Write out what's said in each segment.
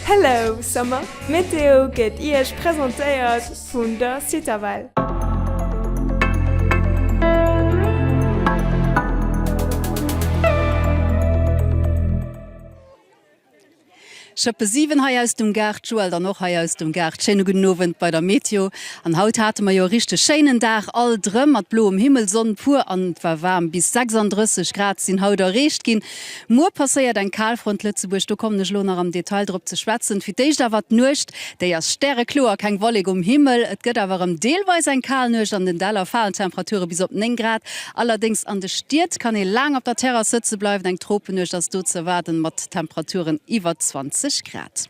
Hello Summer! D'Meteo gëtt Iech presentéiert vun der Citavelle. Schëppe 7 hei aus dem Gaart, Joël dann och hei aus dem Gaart. Schéine gudden Owend bei der Meteo. An haut hate mer jo e richteg schéinen Dag alt erëm mat bloem Himmel, Sonn pur an et war waarm. Bis 36 Grad sinn haut erreecht ginn. Muer passéiert eng Kalfront Lëtzebuerg, do kommen ech elo nach am Detail drop ze schwätzen. Fir d'éischt awer d'Nuecht, déi ass stärekloer, keng Wollek um Himmel. Et gëtt awer erëm deelweis eng kal Nuecht, an den Däller falen d'Temperature bis op 9 Grad. Allerdéngs an de Stied kann ee laang op der Terrass sëtze bleiwen, eng Tropenuecht ass do ze erwaarden, mat Temperaturen iwwer 20 Grad.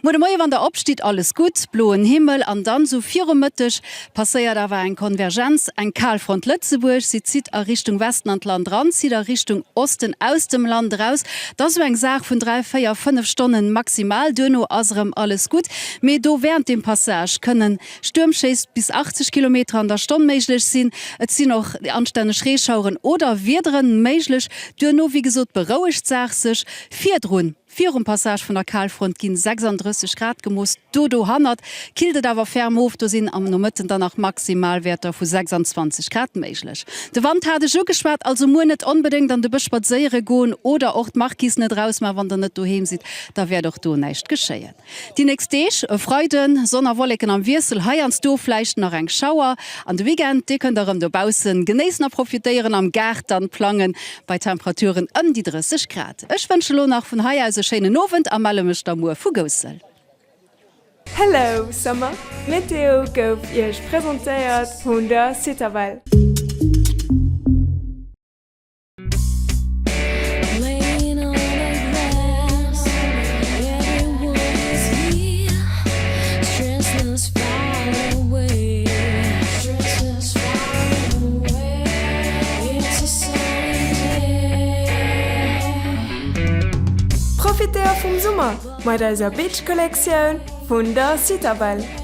Muer de Moie wann der opstitt, alles gutt, bloen Himmel an dann sou virum Mëtteg passéiert awer eng Konvergenz, eng Kalfront Lëtzebuerg. Si zitt a Richtung Westen an d'Land ran, zitt a Richtung Osten aus dem Land eraus. Et ass sou eng Saach vun dräi, véier, fënnef Stonnen maximal, duerno ass erëm alles gutt. Mee do während dem Passage kënne Stuermschéiss bis 80 Kilometer an der Stonn méiglech sinn. Et sinn och anstänneg Reeschaueren oder Wiederen méiglech. Duerno, wéi gesot, berouegt d'Saach sech virdrun. Virum Passage vun der Kalfront ginn 36 Grad gemooss, do dohannert killt et awer ferm of. Do sinn am Nomëtten dann nach Maximalwäerter vu 26 Grad méiglech. De Wand hat ech ugeschwat, also muer net onbedéngt an de Bësch spadséiere goen oder och d'Marquise net eraus man wann der net doheem sidd, da wäert och do näischt geschéien. Déi nächst Deeg, e Freiden, Sonn a Wolleken am Wiessel, heiansdo vläicht nach eng Schauer. An de Weekend, dee kënnt der rëm dobaussen genéissen a profitéieren, am Gaart dann plangen, bei Temperaturen ëm déi 30 Grad. Ech wënsche lo nach vun hei aus e schéinen Owend a melle mech da muer vu Goussel. Hello Summer! D'Meteo gouf Iech presentéiert vun der Citavelle. Profitéier vum Summer mat eiser Beach-Kollektioun vun der Citadelle!